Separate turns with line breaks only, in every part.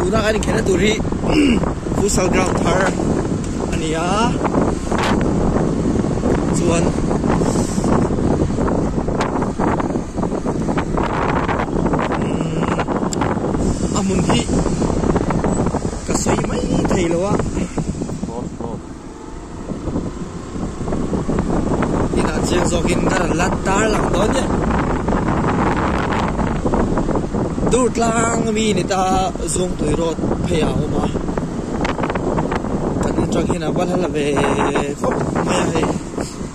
tuna kan inkhelhna tur hi futsal ground thar a ni a chuan a hmun hi ka sawi mai thei lo a. Inah chiang zawk in ka rawn lan tar lang dawn nia. Dur tlang mi ni ta zung tui rawt phei a awm a. Kan in tang hian a bal hal ve khawp mai a hei.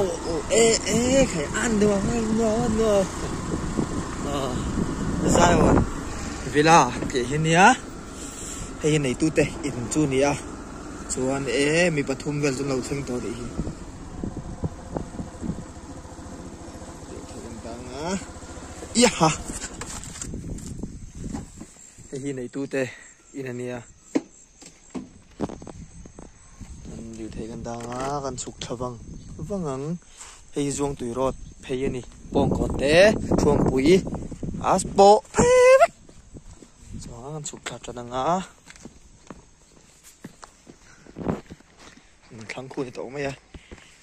oh oh e e khe an do ngai no no a zion villa tih hi nia hei nei tu te in chu nia chuan e mi pathum vel chu lo thleng tawh nih hi Iha! Hei hi nei tu te. In a nia. Kan lirthei kan dang a, kan chhuk tha vang vang ang. Hei hi zuang tui road phei a ni. Pawngkawn te, Thluampui, a pawh phei vek. Chuan kan chhuk tha tan ang a. Kan thlang khu ni tawh mai a.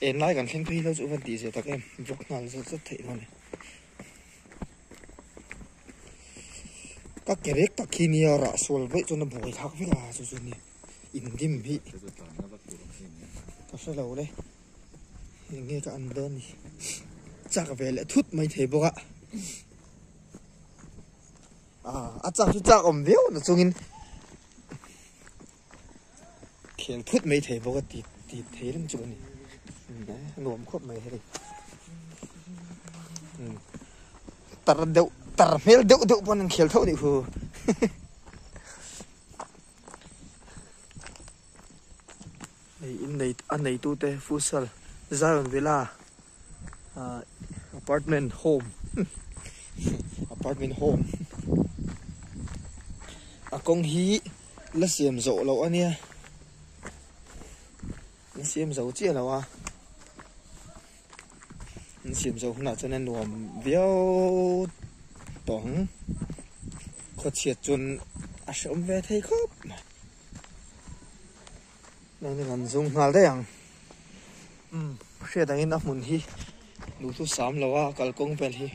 En lai kan thleng phei lo chu van tih zia tak em. Vawk nghal zet zet theih hmang e. ka kerek tak khi nia rah sual vei chuan a buai thak vek a chu chu ni in dim hi ka hre lo le eng nge ka an ber ni chak ve leh thut mai thei bawk a a a chak chu chak awm viau na chungin khel phut mai thei bawk a ti ti thei reng chu ani nuam khawp mai hei hmm. tar deuh tar hmel deuh deuh pawh an khel tho ni hu in nei a nei tu te futsal zion villa apartment home apartment home a kawng hi la siam zo lo a nia la siam zo chiah lo a la siam zo hunah chuan a nuam viau tawng khaw chhiat chuan a hreawm ve thei khawp mai. Nangin an zung nghal daih ang. Umm, hriat angin a hmun hi duh thu sam lo a, kalkawng vel hi.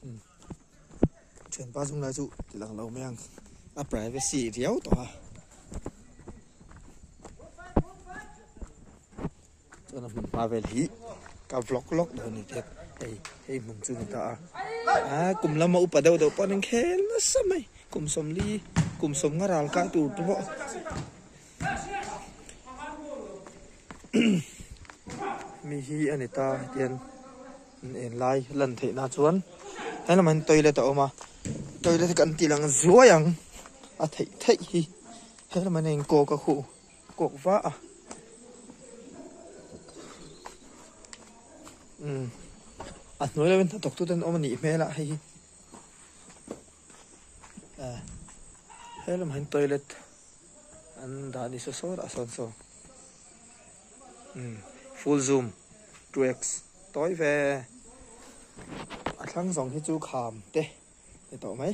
Umm, thianpa zung lai chu ti lang lo mai ang. A privacy riau tawh a. Chuan a hmun hma vel hi ka vlog lawk dawn ni teh. Hei, hei hmun chu ni ta a. A kum lama upa deuh deuh pawh an en khel nasa mai. Kum sawmli, kum sawmnga ral kah tur te pawh. Mi hi a ni ta hian an en lai lan theih na chuan he lamah hian toilet a awm a. Toilet hi kan tih lang zuai ang. A theih theih hi he lamah hian a in kawk a khu. Kawk va a. Umm. A hnuai lovin hnathawk tu ten awm a nih hmel a hei hi. Eh. He lamah hian toilet an dah ni saw saw rah sawn saw. Umm. Full zoom. Two X. Tawi ve. A thlang zawng hi chu kham te ni tawh mai.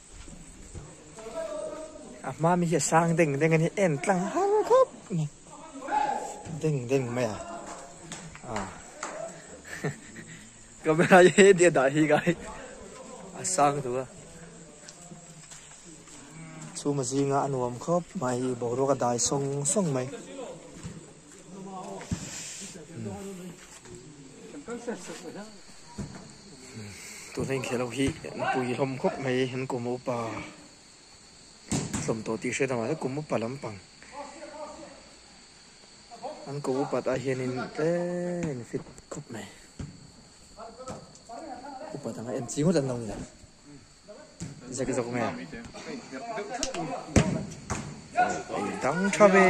a hma mi hi a sang deng deng a ni en tlang har khawp mai deng deng mai a a camera hi he tia dah hi kai a sang tu a chhuma zinga a nuam khawp mai boruak a dai sawng sawng mai Tuna inkhelh ho hi pui hlawm khawp mai an kum upa hlawm tawh tih hriat loh mahse kum upa lampang an kum upa tah hianin tle in fit khawp mai upa dang a en chi ngawt an lo nia. Zagzawk nge? Ei dang tha ve.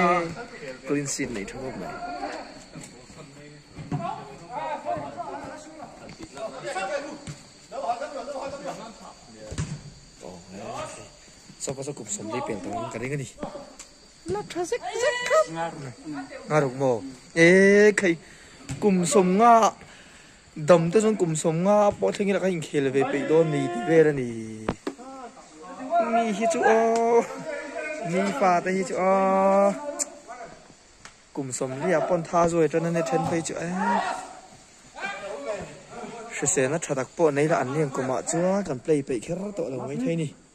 Clean sheet nei tha ngawk mai. Sofa chu kum som dei pel ta ka ring a ni. La tha zek zek khap. Nga ruk mo. E khai kum som nga Dam te chuan kum sawm nga pawh thleng ila ka inkhel ve peih dawn ni tih vel a ni. Mi hi chu aw, mi pa te hi chu aw. Kum sawm riah pawn tha zuai tan ania then phei chu eh. Hrisena tha tak pawh nei la an leng kumah chuan kan play peih kher tawh lo mai thei ni.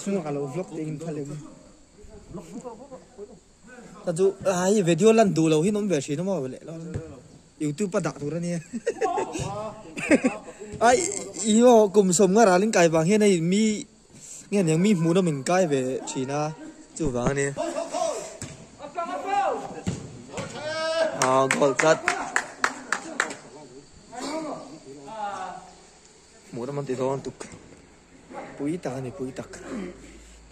Chhungah ka lo vlog tein kha lem. Ta chu ai video lan duh lo hi awm ve thin a maw leh lo. YouTube a dah tur a nia. Ai i ho kum som nga ralin kai vang hian hei mi nge nia mi hmuhna min kai ve thin a chu vang a nia. Ah goal chat. Hmuh ram an ti dawn tuk. Pui tak ani pui tak.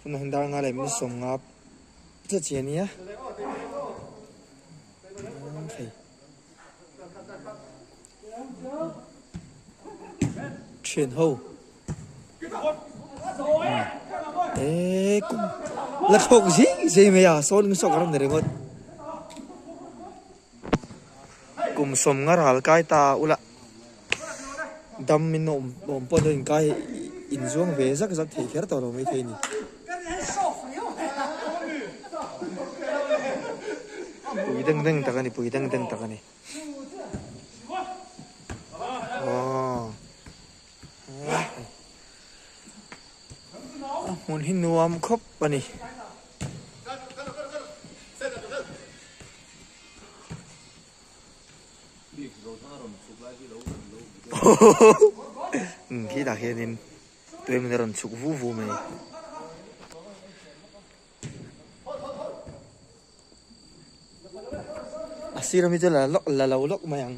Tuna hun dar nga leh min sawm nga che chi ania. Thian ho. Eh, kum. La thok zing zing mai a, sawn min sawk ram ni ringot. Kum sawm ngar hal kai ta ula dam min awm awm pawh dawn in kai in zuang ve zak zak thei kher tawh lo mai thei a ni. Pui deng deng tak a ni pui deng deng tak a ni. Aww. a hmun hi nuam khawp a ni hmm khitah hianin tuimin a rawn chhuk vu vu mai. a sira mi chu la lawk la lo lawk mai ang.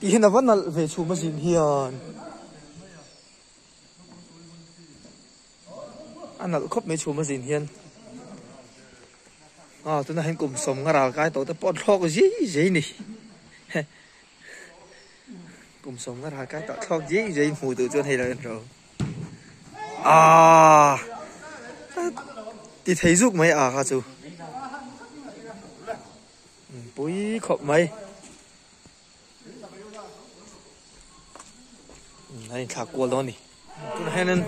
Tih hian a va nalh ve chhum a zin hian. A nalh khawp mai chhum a zin hian. A tunah hian kum sawm ngaral kai tawh te pawh thlawk zui zui a ni. Kum sawm ngar ha kai tawh thlawk zing zai hmuh duh chuan hei lo en ro. Ah. Ti thei zuk mai ah kha chu. Hmm, pui khop mai. Hmm, hei thak kual dawn ni. Tun henin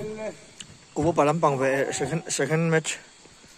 kubu palam pang ve second second match.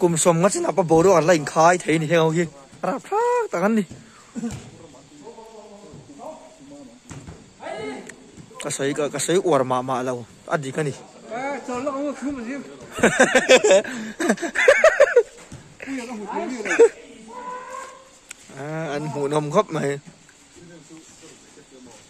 Kum sawm nga chin ah pawh boruak an la in khai thei a ni heng ho hi. A rap thlak tak an ni. Ka sawi ka ka sawi uar mah mah lo a dik a ni. An hmuhnawm khawp mai.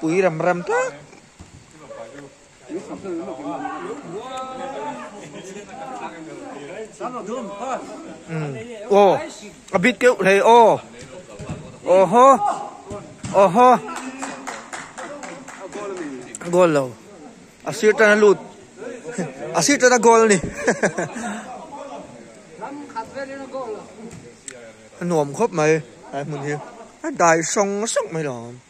Pui ram ram tlat aw a bit keuh hlei aw oho oho goal lo a sir tana lut a sir tana goal ani a nuam khawp mai a hmun hi a dai hrang hrang mai lo.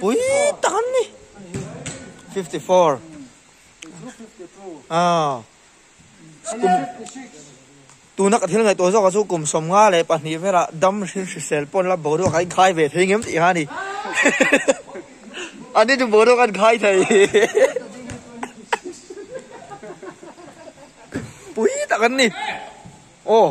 Pui tak an ni. 54. Ah. Tu nak thil ngai to zawk chu kum som nga le pahnih vela dam hrin hrisel pon la boruak ai khai ve thei ngem tih hani. Ani tu boruak an khai thei. Pui tak an ni. Oh.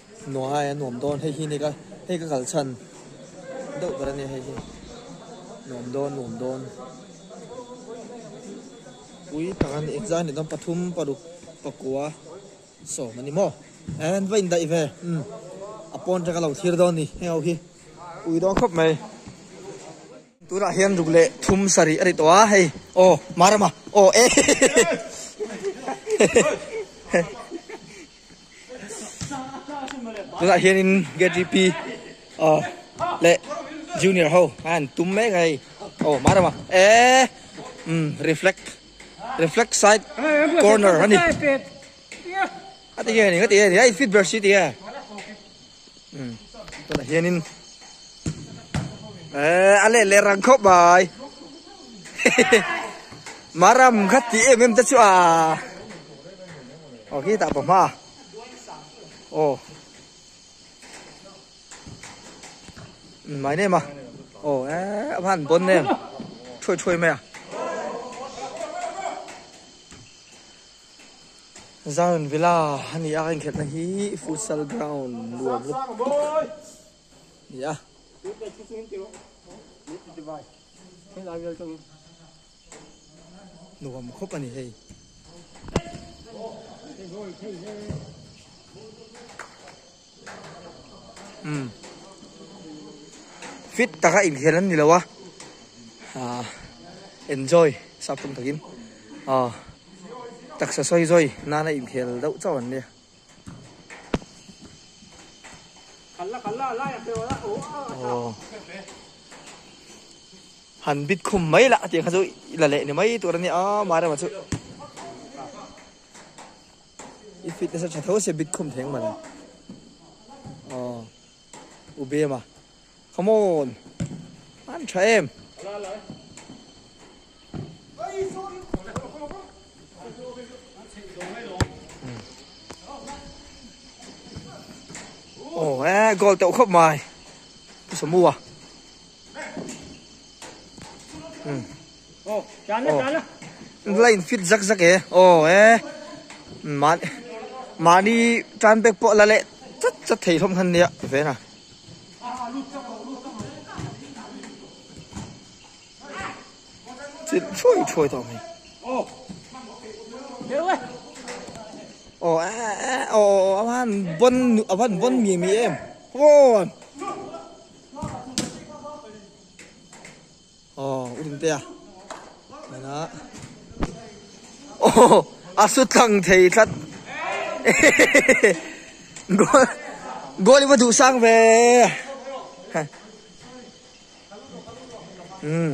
Nuaii a nuam dawn hei hi ni ka hei ka kal chhan deuh ber ania hei hi nuam dawn nuam dawn pui phah an exam ni dawn pathum paruk pakua sawm ani maw eh an va indaih ve umm a pawn tanga lo thlir dawn ni heng ho hi pui dawn khawp mai. Tunah hian ruk leh thum sarih a ri tawh a, hei aw mar ama aw e tunah hianin KTP leh junior ho khan tum mek a hei aw mar ama e reflect reflect side corner a ni a ti hian a ni a ti hian a ni a i fit ber si a ti a. um tunah hianin eh a let leh rang khawp mai maram kha ti em em te chu a oh hi ta pawm ha oh mai nem a oh eh a han bon nem thui thui mai à Zion Villa a ni a eng khelhna hi futsal ground lua vut ni a nuam khawp a ni hei Fit taka inkhel an nilo a ah enjoy sapawm takin ah taksa sawi zawi nana inkhel deuh chauh an nia oh han bit khum mai lah ati kha chu ila leh ni mai tur ania ah Mairema chu I fitness a tha tho se bit khum theng man oh u bem a come on an tha em oh eh goal teuh khop mai samua Lai in fit zak zak e aw e mah mahni tan bag pawh la leh chat chat thei hlawm khan nia veng a chin thuai thuai tawh mai aw e e aw a van bon a van bon mi mi em aw Aw u ring te a nana aw a su tlang thei tlat goal goal i va duh sang ve um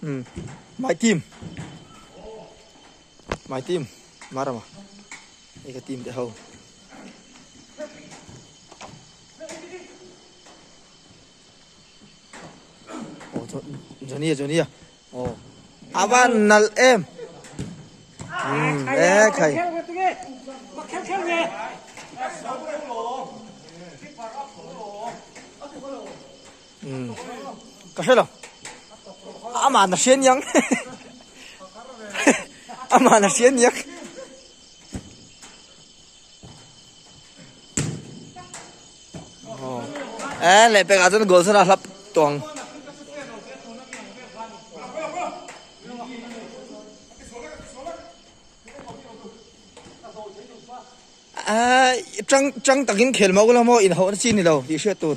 Hmm. My team. My team. Marama. Ika team te ho. Oh, Johnny, Johnny. Ava nal em. E khai. Ka hre lo. Ama na hre niang. Ama na hre niang. Eh, leh pek azan gol sana hlap tuang. Eh, chang chang takin khel mau la mo in ho na chin ni lo, ti hriat tur.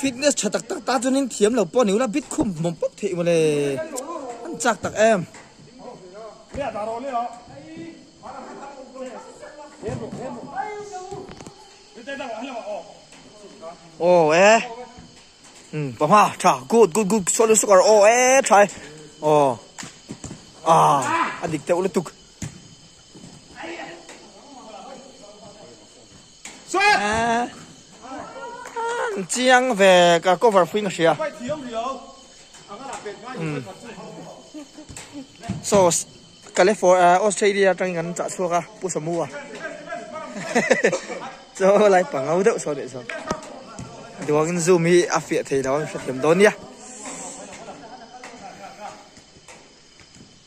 fitness tha tak tak ta chuanin thiam lo pawh niu la bit khum mawm pawp theih maw le an chak tak em ô ê ừ bà hoa thà good good good số lượng số cả ô ê thà ô à anh đi theo lúc tục chiang ve ka cover fuing hria so California Australia tangin kan chah chhuak a pu samu a cho lai pangau deuh so deuh so duangin zoom hi a fiah thei lo hrethiam dawn nia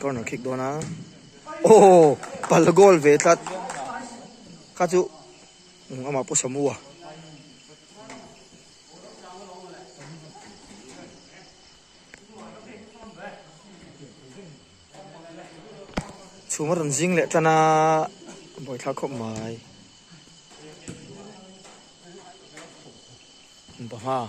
Corner kick dawn a, aww pal goal ve tlat, kha chu amah pawh samu a. Chhum a rawn zing leh tan a, Bawihthla khawp mai. Pahma.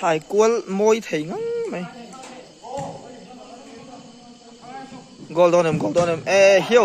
thai kual mawi thei ngang mai goal dawn em goal dawn em e hio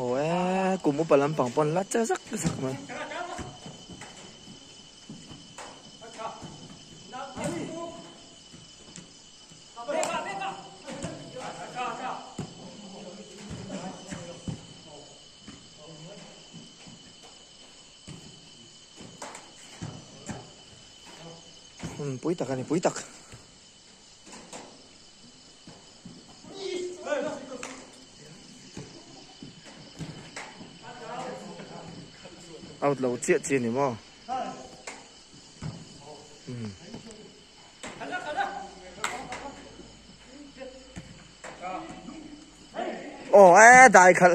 Oe, kum upa lampang pawn la che zak zak mai. Hmm, pui tak ani, pui tak. Out lo chiat chi ni mo. Hmm. Oh, eh, dai khal.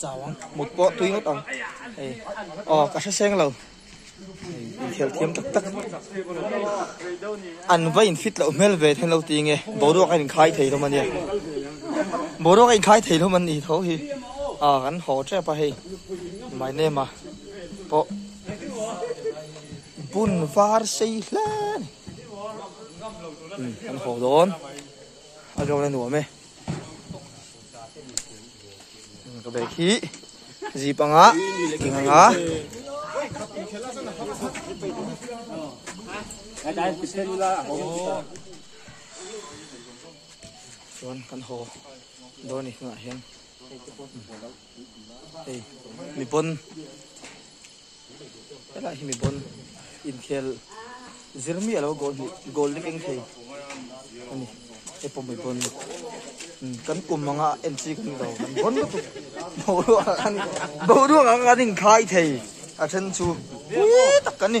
Chau ang, mut pawh tui ngawt ang. Hei, aw ka hreseng lo. Inkhel thiam tak tak. An va infit loh hmel ve then lo ti nge, boruak a inkhai thei hlawm a nia. Boruak a inkhai thei hlawm an nih tho hi. A kan haw tep a hei. My name-a pawh bun var sei hle a ni. Kan haw dawn, a zawk a la nuam e. Ka bag hi zip anga king anga chuan kan haw dawn ni hnungah hian mi pawn helai hi mi pawn inkhel zir miah lo goal hnih goal dik eng thei a ni hei pawh mi pawn kan kum ang a en chi ka nih lo kan vawn lutuk boruak ah khan boruak ah khan inkhlai thei a then chu pui tak ka ni.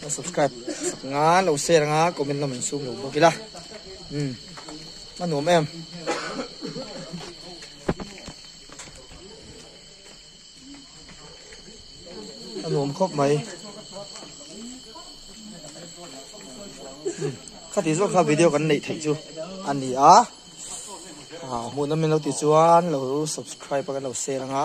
Ka subscribe sak nga lo share anga comment lam an sum lo bawk ila um a nuam em a nuam khawp mai kha ti zawk kha video kan nei thei chu ani a a hmuhna min lo ti chuan lo subscribe kan lo share anga